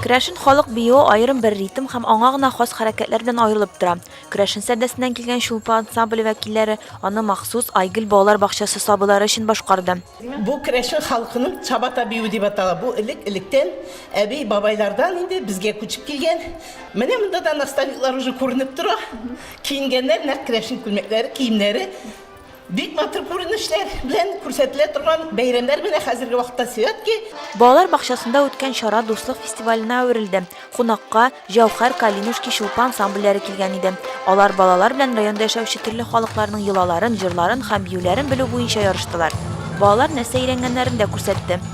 Керәшен халык биюе аерым бер ритм һәм аңа гына хас хәрәкәтләр белән аерылып тора. Керәшен сәрдәсеннән килгән Чулпы ансамбле вәкилләре аны махсус Айгөл балалар бакчасы сабыйлары өчен башкарды. Бу керәшен халкының чабата биюе дип атала. Бу элек-электән әби-бабайлардан инде безгә күчеп килгән. Менә монда да наставниклар уже күренеп тора. Киенгәннәр нәкъ керәшен күлмәкләре, киемнәре. Бик матур күренешләр белән күрсәтелә торган бәйрәмнәр менә хәзерге вакытта Светки. Балалар бакчасында үткән чара Дуслык фестиваленә әверелде. Кунакка Җәүһәр, Калинуш, Кичулпы ансамбльләре килгән иде. Алар балалар белән районда яшәүче төрле халыкларның йолаларын, җырларын һәм биюләрен белү буенча ярыштылар. Балалар нәрсә өйрәнгәннәрен дә күрсәтте.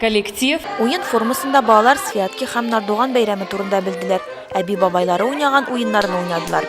Коллектив. Уен формасында балалар Святки һәм Нардуган бәйрәме турында белделәр, әби-бабайлары уйнаган уеннарны уйнадылар.